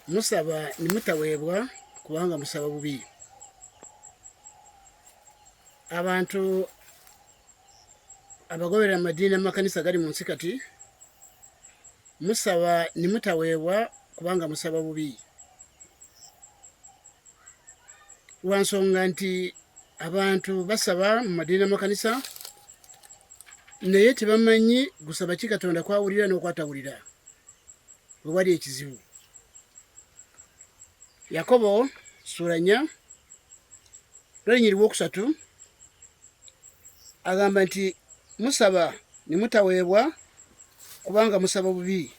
musaba ne mutaweebwa kubanga musaba bubi abantu abagoberera amadiini amakanisa gali mu nsi kati musaba ne mutaweebwa kubanga musaba bubi lwa nsonga nti abantu basaba mu madiini amakanisa naye tebamanyi gusaba ki katonda kwawulira n'okwatawulira we wali ekizibu yakobo ssuula nnya lwenyiriwa okusatu agamba nti musaba ne mutaweebwa kubanga musaba bubi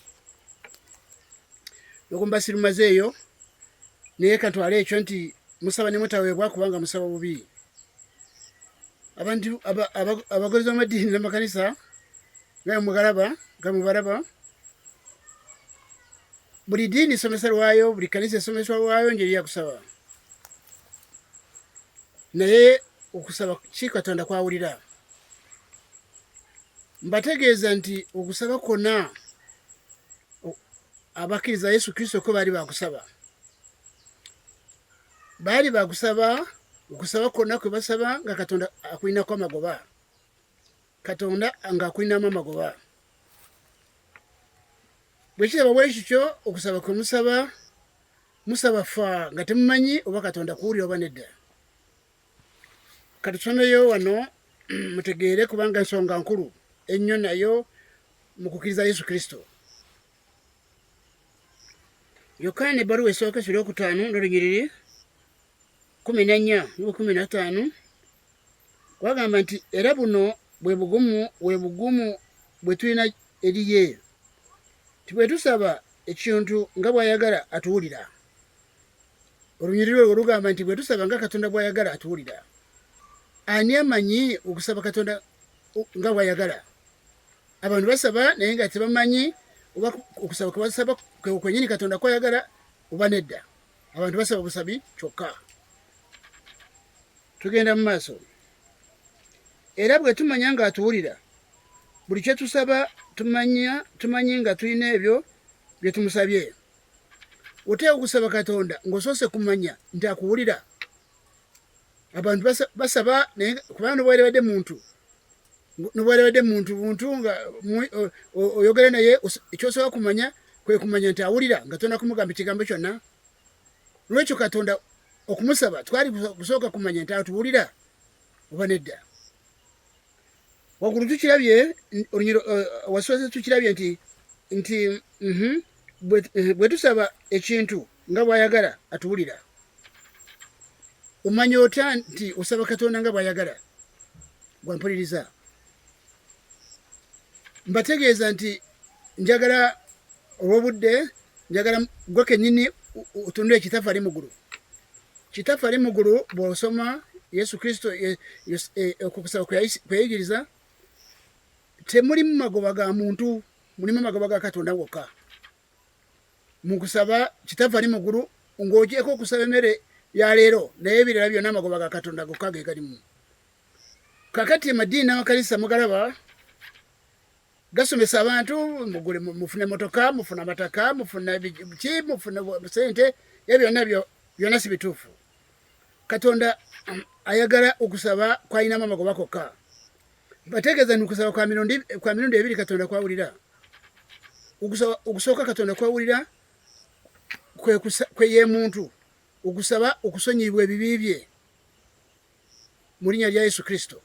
okumbasirumaze eyo naye katwale ekyo nti musaba ne mutaweebwa kubanga musaba bubi abantu abagozi b'amadiini n'amakanisa naye mugalaba nga mubalaba buli diini somesa lwayo buli kanisa esomesa lwayo njeri yakusaba naye okusaba ki katonda kwawulira mbategeeza nti okusaba kwona abakkiriza yesu kristo ko baali bakusaba baali bakusaba okusaba kwona kwe basaba nga katonda akulinako amagoba katonda nga akulinamu amagoba bwekiraba bwekityo okusaba kwe musaba musaba fa nga temumanyi oba katonda kuwulira oba nedda katusomeyo wano mutegeere kubanga ensonga nkulu ennyo nayo mu kukkiriza yesu kristo yokaana ebbaluwa esooka ekiro okutaano n'olunyiriri kumi na nnya nuku kumi na ttaano kwagamba nti era buno bwe bugumu bwe bugumu bwe tulina eri ye nti bwe tusaba ekintu nga bw'ayagala atuwulira olunyiriri olwo lugamba nti bwe tusaba nga katonda bw'ayagala atuwulira ani amanyi okusaba katonda nga bw'ayagala abantu basaba naye nga tebamanyi oba okusaba kwebasaba kwenyini katonda kwayagala oba nedda abantu basaba busabi kyokka tugenda mu maaso era bwe tumanya ng'atuwulira buli kye tusaba tumanya tumanyi nga tulina ebyo bye tumusabye oteeka okusaba katonda ng'osoose kumanya nti akuwulira abantu basaba naye kubanga nobwalibadde muntu nobwalibadde muntu buntu nga oyogere naye ekyosobola kumanya kwekumanya nti awulira nga tona kumugamba ekigambo kyonna lwekyo katonda okumusaba twali kusooka kumanya nti atuwulira oba nedda wagulu tukirabye olunyiro eh, wasoose tukirabye nti nti mhm, eh, bwe tusaba ekintu nga bwayagala atuwulira omanya otya nti osaba katonda nga bwayagala gwampuliriza mbategeeza nti njagala olwobudde njagala gwe kenyini otunule kitaffe ali mugulu kitaffe ali mugulu bwosoma yesu kristo eh, eh, okukusaba kweyigiriza temulimu magoba ga muntu mulimu magoba ga katonda wokka mukusaba kitaffe ali mugulu ng'ogyeko okusaba emmere ya leero naye ebirala byonna amagoba ga katonda gokka ge galimu kakati emadiini n'amakanisa mugalaba gasomesa abantu mugule mufune motoka mufuna mataka mufuna ki mufuna sente ebyo byonna byonna si bituufu katonda um, ayagala okusaba kwalinamu amagoba kokka bategeeza ni okusaba kwa mirundi ebiri katonda kwawulira okusooka katonda kwawulira kweyemuntu okusaba okusonyiyibwa ebibi bye mu linnya lya Yesu Kristo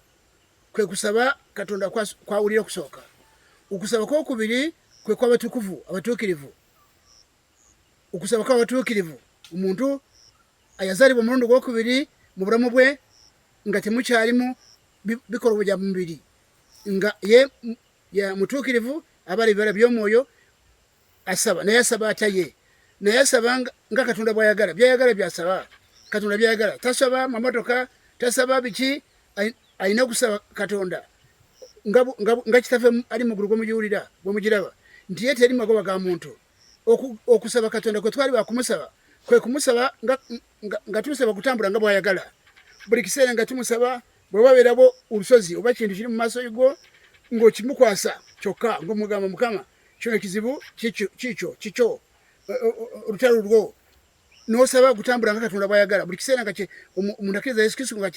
kwe kusaba Katonda kwawulira okusooka. Okusaba kw'okubiri kwe kw'abatukuvu abatuukirivu. Okusaba kw'abatuukirivu omuntu ayazaalibwa omulundi gw'okubiri mu bulamu bwe nga temukyalimu bikolwa bya mubiri nga ye ya mutuukirivu abala ebibala by'omwoyo asaba naye asaba atya ye naye asaba nga katonda bwayagala byayagala byasaba katonda byayagala tasaba mamotoka tasaba biki alina okusaba katonda nga kitafe ali mugulu gwemugiwulira gwemugiraba nti ye teri magoba ga muntu okusaba katonda kwe twali bakumusaba kwe kumusaba nga tumusaba kutambula nga bwayagala buli kiseera nga tumusaba bwewabeerabo olusozi oba kintu kiri mu maaso gwo ngaokimukwasa kyokka ngaomugamba mukama kino kizibu kikyo kikyo olutalo lwo nosaba kutambula nga katonda bwayagala buli kiseera nga omuntu akkiriza yesu kristo nga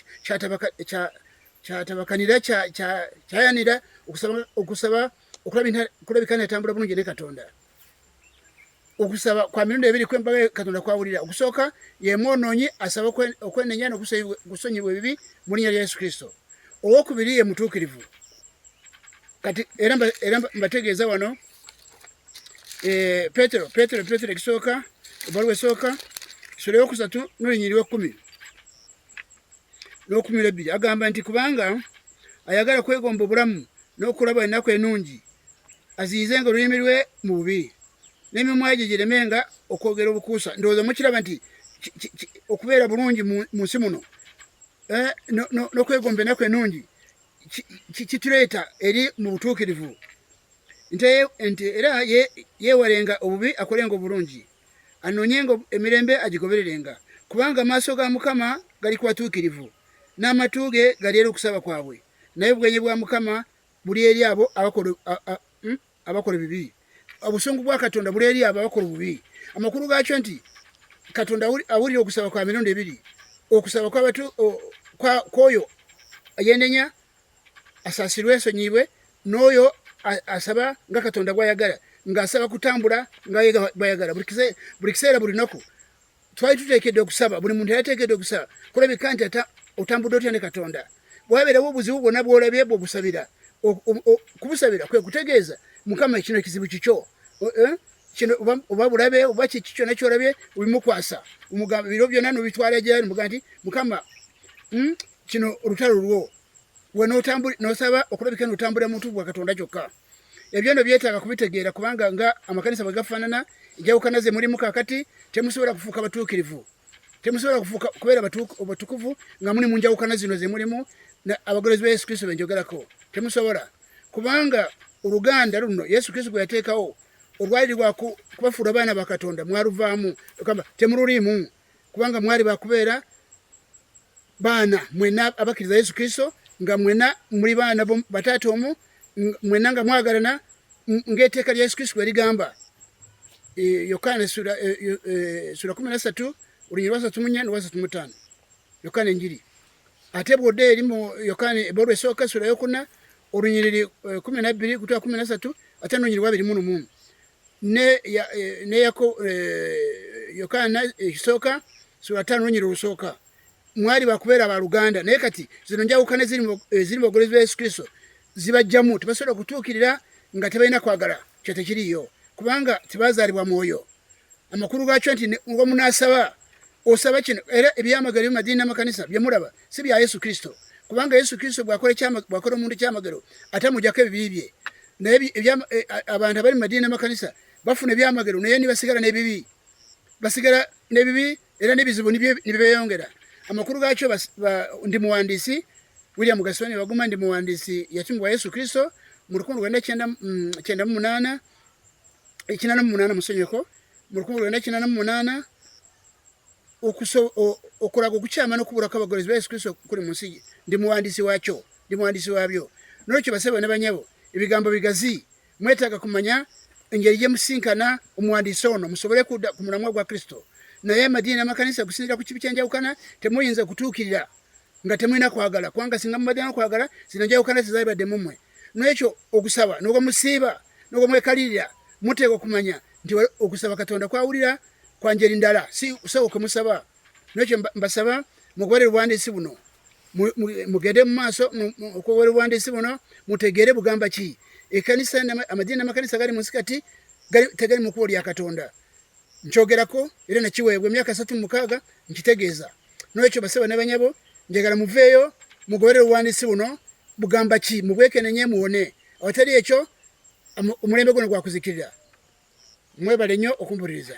kyatabakanira kyayanira okusaba okulabika netambula bulungi ne katonda okusaba kwa mirundi ebiri kwembaga katonda kwawulira okusooka yemwonoonyi asaba okwenenya nokusonyibwa ebibi mu linnya lya yesu kristo owokubiri ye mutuukirivu kati era era mbategeeza wano eh, petero petero petero ekisooka ebbaluwa esooka sula eyokusatu nolunyiri wekumi n'okumira ebbiri agamba nti kubanga ayagala kwegomba obulamu n'okulaba ennaku enungi aziyize nga olulimi lwe mu bubi n'emimwa gye gireme nga okwogera obukuusa ndowooza mukiraba nti okubeera bulungi mu nsi muno eh, n'okwegomba ennaku enungi kituleeta eri mu butuukirivu nti era yeewalenga obubi akolenga obulungi anoonyenga emirembe agigobererenga kubanga amaaso ga mukama gali ku batuukirivu n'amatu ge gali eri okusaba kwabwe naye obwenyi bwa mukama buli eri abo abakola hmm? abakola ebibi obusungu bwa katonda buli eri abo abakola obubi amakulu gaakyo nti katonda awulira okusaba kwa mirundi ebiri okusaba kwabatu kwoyo yenenya asasirwe ensonyiibwe n'oyo asaba nga katonda gwayagala ng'asaba kutambula nga bwayagala buli kiseera buli naku twali tuteekedde okusaba buli muntu yateekedde okusaba kulabika nti ata otambudde otya ne katonda bwabeerawo obuzibu bwonna bwolabye bwe obusabira kubusabira kwe kutegeeza mukama kino ekizibu kikyo eh? kino oba bulabe oba kiki kyonna kyolabye obimukwasa omugamba biro byonna nobitwala gyali muga nti mukama hmm, kino olutalo lwo we nosaba okulabika notambulira muntu bwa katonda kyokka ebyo no byetaaga kubitegeera kubanga nga amakanisa bwe gafaanana enjawukana ze mulimu kakati temusobola kufuuka batuukirivu temusobola kufuuka kubeera batukuvu nga muli mu njawukana zino ze mulimu abagolozi ba yesu kristo benjogerako temusobola kubanga oluganda luno yesu kristo gwe yateekawo olwali lwakubafuula abaana ba katonda mwaluvaamu ogamba temululiimu kubanga mwali bakubeera baana mwena abakkiriza yesu kristo nga mwena muli baana bataata omu mwena nga mwagalana ngaeteeka lya yesu kristo bwe ligamba e, yokaana sura e, e, kumi nasatu olunyiri lwasatu munya nolwasatu mutaano yokaana enjiri ate bwodde erimu yokaana ebolu esooka sura yokuna olunyiriri eh, kumi nabbiri kutwa kumi nasatu ate nolunyiriri wabiri munu mumu neyako eh, eh, yokaana ekisooka sula taano olunyiriri olusooka mwali bakubeera baluganda naye kati zino njawukana eziri mu bogolezi bwa yesu kristo zibajjamu tebasobola okutuukirira nga tebalina kwagala kyo tekiriyo kubanga tebazaalibwa mwoyo amakulu gakyo nti wamunaasaba osaba kino era ebyamagero byomadiini namakanisa byemulaba si bya yesu kristo kubanga yesu kristo bwakola omuntu kyamagero ate amujako ebibi bye naye e, abantu abali mu madiini namakanisa bafuna ebyamagero naye nibasigala nebibi basigala nebibi era n'ebizibu nibyeyongera amakulu gaakyo ndi muwandiisi william gasoni baguma ndi muwandiisi yatumibwa yesu kristo mu lukumi lwenda kyenda mm, mu munaana ekinana mu munaana musonyeko mu lukumi lwenda kinana mu munaana okulaga okukyama n'okubulako abagoberezi ba yesu kristo kuli mu nsi ndi muwandiisi waakyo ndi muwandiisi waabyo nolwekyo basebo ne banyabo ebigambo bigazi mwetaaga kumanya engeri gye musinkana omuwandiisi ono musobole kudda ku mulamwa gwa kristo naye amadiini n'amakanisa kusinzira ku kibi kyenjawukana temuyinza kutuukirira nga temulina kwagala kubanga singa mubadde nokwagala zino njawukana zezabadde mumwe nekyo okusaba nogwo musiiba nogwo mwekalirira muteeka okumanya nti okusaba katonda kwawulira kwanjeri ndala si kusaba okwemusaba nekyo mbasaba mugobere obuwandiisi buno mugende mu maaso okugobera obuwandiisi buno mutegeere bugamba ki ekanisa amadiini namakanisa gali munsi kati tegali mu kubo lya katonda nkyogerako era nakiweebwa emyaka satu mumukaaga nkitegeeza nolwekyo basaba nabanyabo njagala muveeyo mugobere obuwandiisi buno bugamba ki mubwekenenye muwone awatali ekyo omulembe guno gwakuzikirira mwebale nnyo okumpuliriza